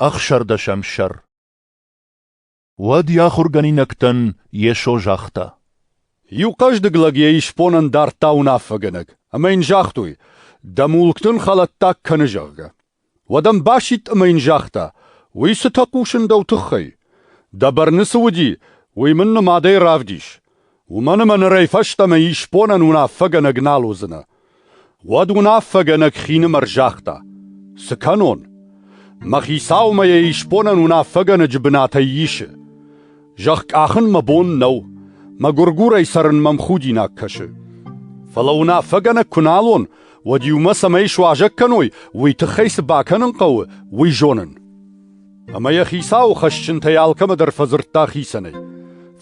Ӕхсӕрдӕсӕм сӕр Уӕд йӕ ахуыргӕнинӕгтӕн Йесо загъта. Иу хъӕздыг лӕг йӕ исбонӕн дардта уынаффӕгӕнӕг, ӕмӕ йын загътой, дӕ мулкты ын хӕлӕттаг кӕны, зӕгъгӕ. Уӕд ӕм басидт ӕмӕ йын загъта, уый цытӕ хъусын дӕу тыххӕй? Дӕ бӕрны цы уыди, уый мын нымадӕй равдис. Уымӕн ӕмӕ нырӕй фӕстӕмӕ исбонӕн уынаффӕгӕнӕг нал уыдзынӕ. Уӕд уынаффӕгӕнӕг хинымӕр загъта: «Цы кӕнон? Мӕ хицаумӕ йӕ исбонӕн уынаффӕгӕнӕджы бынатӕй исы. Зӕгъ, къахын мӕ бон нӕу, мӕ гуыргурӕй цӕрын мӕм худинаг кӕсы. Фӕлӕ уынаффӕгӕнӕг куы нал уон, уӕд иумӕ цӕмӕй суазӕг кӕной, уый тыххӕй цы бакӕнын хъӕуы, уый зонын». Ӕмӕ йӕ хицауы хӕсджынтӕй алкӕмӕ дӕр фӕдзырдта хицӕнӕй.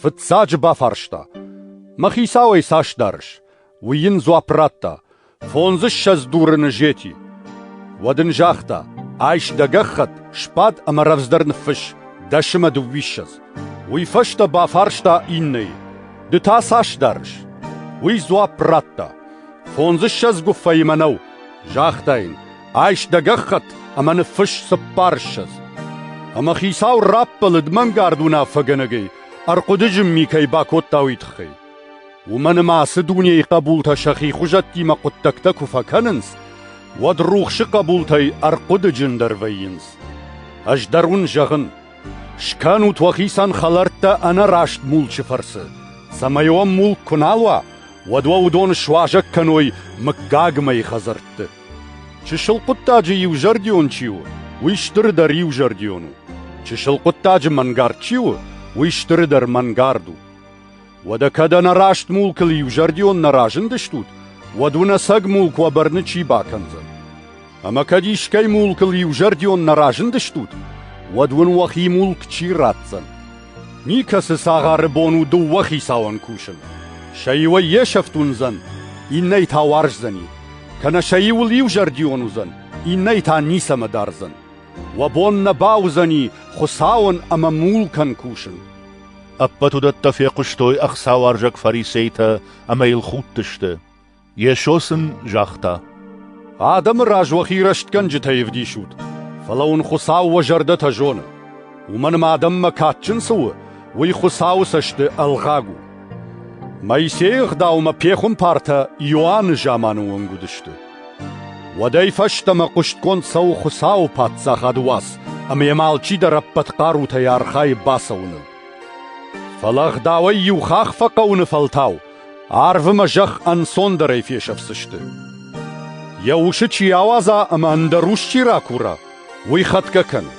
Фыццаджы бафарста: «Мӕ хицауӕй цас дарыс?» Уый йын дзуапп радта: «Фондзыссӕдз дурыны зети». Уӕд ын загъта: «Айс дӕ гӕххӕтт, сбад ӕмӕ рӕвдздӕр ныффысс, дӕс ӕмӕ дыууиссӕдз». Уый фӕстӕ бафарста иннӕйы: «Ды та цас дарыс?» Уый дзуапп радта: «Фондзыссӕдз гуыффӕимӕ нӕу», загъта йын. Айс дӕ гӕххӕтт ӕмӕ ныффысс цыппар ссӕдз. Ӕмӕ хицау раппӕлыд мӕнгард уынаффӕгӕнӕгӕй, ӕрхъуыды зымми кӕй бакодта, уый тыххӕй. Уымӕн ӕмӕ ацы дунейы хъӕбултӕ сӕхи хуызӕттимӕ хъуыддӕгтӕ куы фӕкӕнынц, уӕд рухсы хъӕбултӕй ӕрхъуыдыджындӕр вӕййынц. Ӕз дӕр уын зӕгъын, скӕнут уӕхицӕн хӕлӕрттӕ ӕнӕраст мулчы фӕрцы, цӕмӕй уӕм мулк куы нал уа, уӕд уӕ уыдон суазӕг кӕной мыггагмӕйы хӕдзӕртты. Чысыл хъуыддаджы иузӕрдион чи у, уый стырдӕр иузӕрдион у. Чысыл хъуыддаджы мӕнгард чи у, уый стырдӕр мӕнгард у. Уӕдӕ кӕд ӕнӕраст мулкыл иузӕрдион нӕ разындыстут, уӕд уынӕсӕг мулк уӕ бӕрны чи бакӕндзӕн? Ӕмӕ кӕд искӕй мулкыл иузӕрдион нӕ разындыстут, уӕд уын уӕхи мулк чи ратдзӕн? Никӕцы цагъары бон у дыууӕ хицауӕн кусын. Сӕ иуӕй йе сӕфт уындзӕн, иннӕйы та уарздзӕни. Кӕнӕ сӕ иуыл иузӕрдион уыдзӕн, иннӕйы та ницӕмӕ дардзӕн. Уӕ бон нӕ бауыдзӕни Хуыцауӕн ӕмӕ мулкӕн кусын. Ӕппӕт уыдӕттӕ фехъуыстой ӕхцауарзаг фарисейтӕ ӕмӕ йыл худтысты. Йесо сын загъта, «Адӕмы раз уӕхи рӕстгӕнджытӕй ӕвдисут, фӕлӕ уын Хуыцау уӕ зӕрдӕтӕ зоны. Уымӕн ӕмӕ адӕммӕ кадджын цы у, уый Хуыцауы цӕсты ӕлгъаг у». Моисейы ӕгъдаумӕ пехуымпартӕ Иоанны заманы онг уыдысты. Уӕдӕй фӕстӕмӕ хъуыстгонд цӕуы Хуыцауы Паддзахады уац ӕмӕ йӕм алчидӕр ӕппӕт хъарутӕй архайы бацӕуыныл. Фӕлӕ ӕгъдауӕй иу хахх фӕхъӕуыны фӕлтау Арвы мӕ зӕхх ӕнцондӕрӕй фесӕфдзысты. Йӕ усы чи ауадза ӕмӕ ӕндӕр ус чи ракура, уый хӕтгӕ кӕны.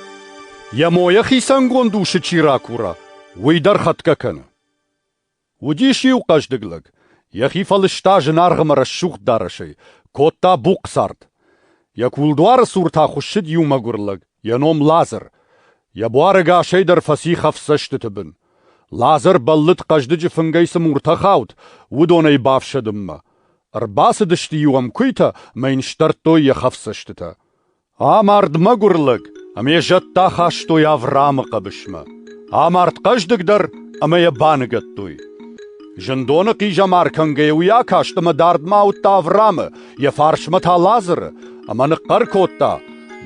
Йӕ мойӕ хицӕнгонд усы чи ракура, уый дӕр хӕтгӕ кӕны. Уыдис иу хъӕздыг лӕг, йӕхи фӕлыста зынаргъ ӕмӕ рӕсугъд дарӕсӕй, кодта бухъ цард. Йӕ кулдуары цур та хуыссыд иу мӕгуыр лӕг, йӕ ном Лазыр. Йӕ буары гасӕй дӕр фӕци хӕфсӕстыты бын. Лазӕр бӕллыд хъӕздыджы фынгӕй цы муртӕ хауд, уыдонӕй бафсӕдынмӕ. Ӕрбацыдысты-иу ӕм куыйтӕ мӕ йын сдӕрдтой йӕ хӕфсӕстытӕ. Амард мӕгуыр лӕг, ӕмӕ йӕ зӕдтӕ ахастой Авраамы хъӕбысмӕ. Амард хъӕздыг дӕр ӕмӕ йӕ баныгӕдтой. Зындоны хъизӕмар кӕнгӕйӕ уый акаст ӕмӕ дардмӕ ауыдта Авраамы, Йӕ фарсмӕ та Лазыры, ӕмӕ ныхъхъӕр кодта: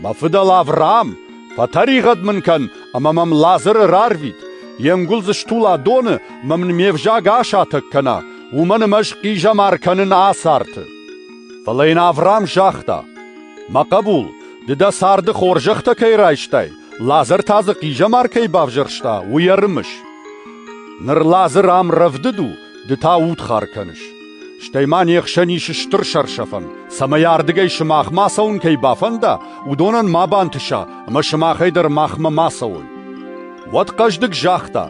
«Мӕ фыдӕл Авраам, фӕтӕригъӕд мын кӕн, ӕмӕ мӕм Лазыры рарвит! Йе нгуыл дзы стула доны мӕ мын ме взаг асатӕг кӕна, уымӕн ӕмӕ ӕз хъизӕмар кӕнын ацарты!» Фӕлӕ йын Авраам загъта: «Мӕ хъӕбул, ды дӕ царды хорзӕхтӕ кӕй райстай, Лазыр та дзы хъизӕмар кӕй бавзӕрста, уый ӕрымыс. Ныр Лазыр ам рӕвдыд у, ды та удхар кӕныс. Стӕй ма не хсӕн ис стыр сӕрсӕфӕн, цӕмӕй ардыгӕй сымах ма цӕуын кӕй бафӕнда, уыдонӕн ма бантыса, ӕмӕ сымахӕй дӕр махмӕ ма цӕуой. Уӕд хъӕздыг загъта: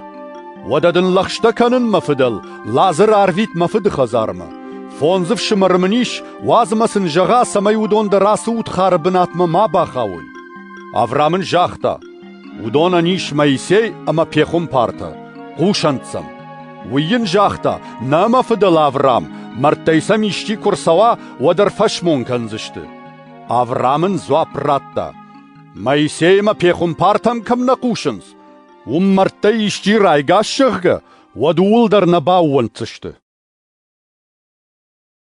«Уӕдӕ дын лӕгъстӕ кӕнын, мӕ фыдӕл, Лазыр арвит мӕ фыды хӕдзармӕ. фондз ӕфсымӕры мын ис, уадз мӕ сын зӕгъа, цӕмӕй уыдон дӕр ацы удхары бынатмӕ ма бахауой». Авраам ын загъта: Уыдонӕн ис Моисей ӕмӕ пехуымпартӕ, хъусӕнт сӕм. Уый йын загъта, «Нӕ мӕ фыдӕл Авраам, мӕрдтӕй сӕм исчи куы рцӕуа, уӕд ӕрфӕсмон кӕндзысты». Авраам ын дзуапп радта, «Моисей ӕмӕ пехуымпартӕм кӕм нӕ хъусынц, уым мӕрдтӕй исчи райгас, зӕгъгӕ, уӕд ууыл дӕр нӕ баууӕнддзысты».